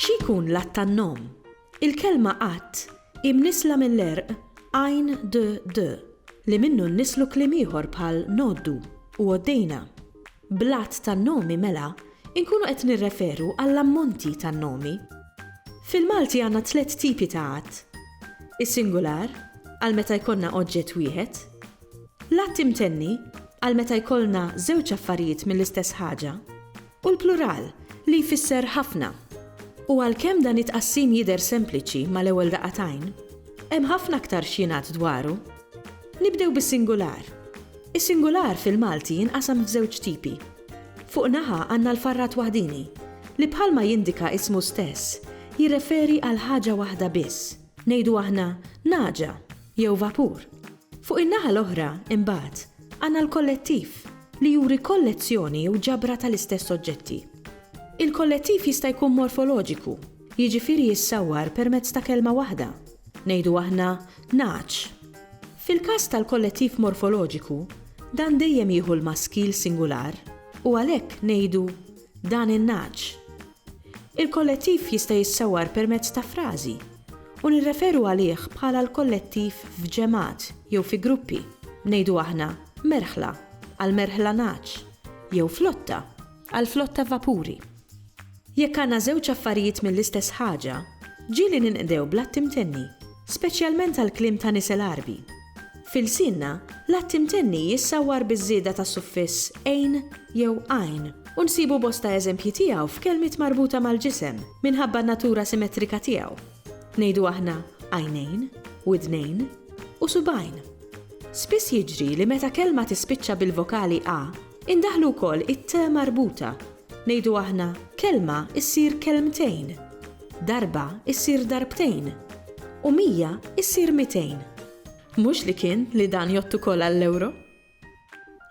Xi jkun l-att tan-nom? Il-kelma att hi mnissla mill-għerq għajn d, d, li minnu nnislu kliem ieħor bħal ngħoddu u għoddejna. Bl-għadd tan-nomi mela nkunu qed nirreferu għall-ammonti tan-nomi. Fil-Malti għandna tliet tipi ta' għadd, is-singular, għal meta jkollna oġġett wieħed, l-għadd imtenni, għal meta jkollna żewġ affarijiet mill-istess ħaġa, u l-plural, li jfisser ħafna. U għalkemm dan it-tqassim jidher sempliċi mal-ewwel daqqa t'għajn, hemm ħafna aktar x'jingħad dwaru. Nibdew bis-singular. Is-singular fil-Malti jinqasam f'żewġ tipi. Fuq naħa għandna l-farrat waħdieni, li bħalma jindika ismu stess, jirreferi għal ħaġa waħda biss, ngħidu aħna nagħġa jew vapur. Fuq in-naħa l-oħra, imbagħad, għandna l-kollettiv, li juri kollezzjoni jew ġabra tal-istess oġġetti. Il-kollettiv jista' jkun morfoloġiku, Jiġifieri jissawwar permezz ta' kelma waħda, ngħidu aħna nagħaġ. Fil-każ tal-kollettiv morfoloġiku, dan dejjem jieħu l-maskil singular u għalhekk ngħidu dan in-nagħaġ. Il-kollettiv jista' jissawwar permezz ta' frażi u nirreferu għalih bħala l-kollettiv f'ġemgħat jew fi gruppi, ngħidu aħna merħla għall-merħla nagħaġ jew flotta. għall-flotta vapuri. Jekk għandna żewġ affarijiet mill-istess ħaġa, ġieli ninqdew bl-att imtenni, speċjalment għall-kliem ta' nies l-Għarbi. F'ilsienna, l-att imtenni jissawwar biż-żieda ta' suffiss ejn jew għajn u nsibu bosta eżempji tiegħu f'kelmiet marbuta mal-ġisem minħabba n-natura simetrika tiegħu. Ngħidu aħna għajnejn, widnejn, u subgħajn. Spiss jiġri li meta kelma tispiċċa bil-vokali a, Indaħħlu wkoll it-te marbuta. Ngħidu aħna, kelma ssir kelmtejn, darba ssir darbtejn, u mija ssir mitejn. Mhux li kien li dan jgħodd ukoll għall-ewro?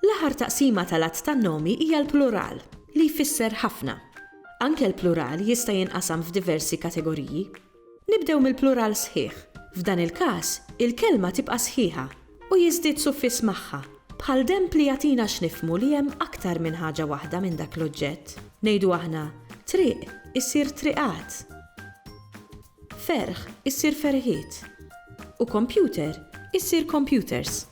L-aħħar taqsima tal-għadd tan-nomi hija l-plural, li jfisser ħafna. Anke l-plural jista' jinqasam f'diversi kategoriji. Nibdew mill-plural sħiħ. F'dan il-każ, il-kelma tibqa' sħiħa u jiżdied suffiss magħha, bħal demb li jagħtina x'nifhmu li hemm aktar minn ħaġa waħda minn dak l-oġġett. Ngħidu aħna, triq issir triqat, ferħ issir ferħiet u computer issir computers.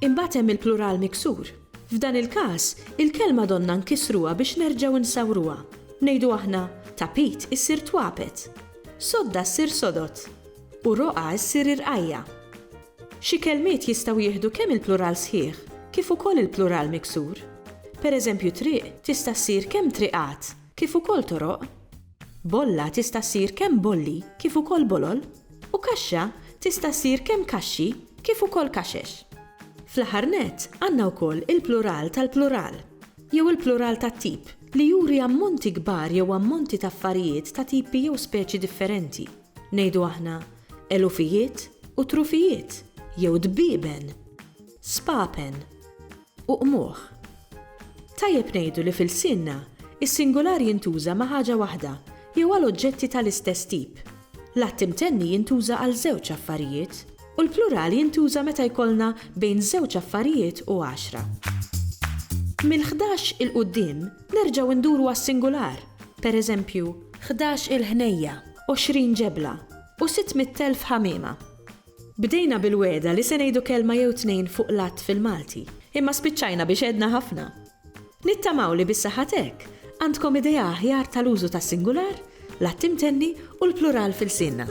Imbagħad hemm il-plural miksur. F'dan il-każ, il-kelma donna nkissruha biex nerġgħu nsawruha. Ngħidu aħna, Tapit issir twapet. Sodda ssir sodod. U roqgħa ssir irqajja. Xi kelmiet jistgħu jieħdu kemm il-plural sħiħ kif ukoll il-plural miksur. Pereżempju triq tista' ssir kemm triqat kif ukoll toroq. Bolla tista' ssir kemm bolli kif ukoll bolol, u kaxxa tista' ssir kemm kaxxi kif ukoll kaxex. Fl-aħħar nett, għandna wkoll il-plural tal-plural, jew il-plural tat-tip, li juri ammonti kbar jew ammonti ta' affarijiet ta' tipi jew speċi differenti, ngħidu aħna, elufijiet u trufijiet, jew dbieben, spapen. u qmuħ. Tajjeb ngħidu li f'ilsienna, is-singular jintuża ma' ħaġa waħda jew għal oġġetti ta' l-istess tip. L-att imtenni jintuża għal żewġ affarijiet, u l-plural jintuża meta jkollna bejn żewġ affarijiet u għaxra. Mill-ħdax 'il quddiem nerġgħu nduru għas-singular, per eżempju, ħdax-il ħnejja, għoxrin ġebla, u sitt mitt elf ħamiema. Bdejna bil-wegħda li se ngħidu kelma jew tnejn fuq l-għadd fil-Malti, imma spiċċajna biex għedna ħafna. Nittamaw li bis-saħħa t'hekk, għandkom idea aħjar tal-użu tas-singular, l-għadd imtenni u l-plural f'ilsienna.